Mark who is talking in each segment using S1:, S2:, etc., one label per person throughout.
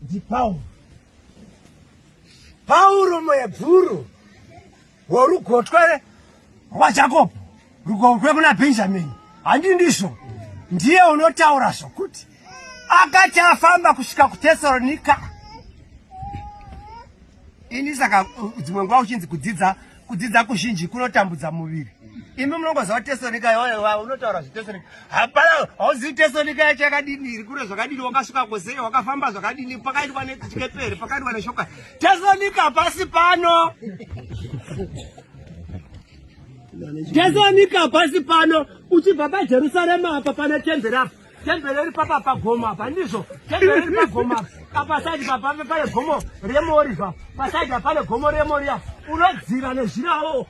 S1: ndipauro pauro muhebhuru worugotwe rwajakobo rugotwe kuna benjamini handi ndizvo ndiye unotaura zvokuti akati afamba kusvika kutesaronika ini saka dzimwe nguva uchinzi kudzidza kudzidza kuzhinji kunotambudza muviri imi munongoziva tesonika yoa unotaura zvitesonika hapana hauzivi tesonika yacho yakadini iri kure zvakadini wakasvika kosei wakafamba zvakadini pakaitwa nechikeperi pakaitwa neshoka tesonika pasi pano tesonika pasi pano uchibva pajerusarema apa pane temberi apa Tembere iri papa pagomo apa ndizvo tembere iri pagomo apa apa saidi papa pane gomo remori pa pasaidi pane gomo remori apa unodzira nezhira wo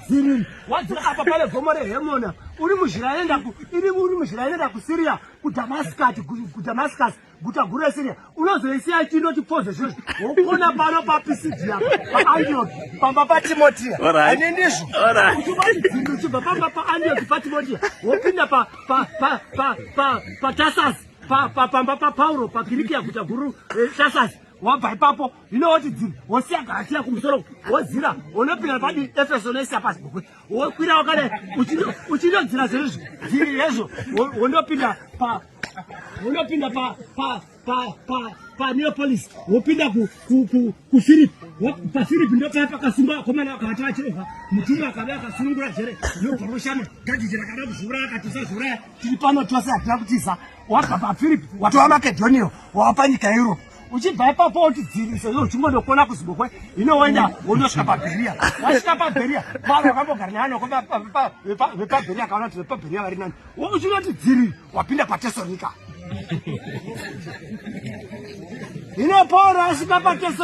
S1: dziri wadzira apa pane gomo rehemona uri muzhira yenda ku iri uri muzhira yenda ku Syria ku Damascus ku Damascus guta guru reSiria unozoisiya chindoti pfoze zviro wokona pano paPisidia paAndioki pamba paTimotia ane ndizvo uchibaidzimbi uchibva pamba paAndioki paTimotia wopinda paTasasi pamba paPauro paKirikia guta guru reTasasi eh, wabva ipapo ino woti dzini wosiya gasiya kumusoro wozira unopinda padi efeso noisiya pasi bukwe wokwira wakadai uchindodzira zveizvo dziri yezvo wondopinda pa unopinda pa pa pa pa pa neo police wopinda ku ku ku ku Philip pa Philip ndo pa pakasimba komana akavata achirova mutumwa akabaya akasunungura jere yo poroshana gadi jira kada kuzvura akatisa zvura tiri pano twase atina kutiza wabva pa Philip watova Macedonia wapa nyika Europe uchibva ipapo wotidzivisa yo uchingonokona kuzibokwe ino woenda wonosvika paberia wasvika paberia vanhu vakambogara nevanhu vepabheria akaona kuti vepabheria vari nani uchinoti dziri wapinda patesonika ine pauro asvika patesonika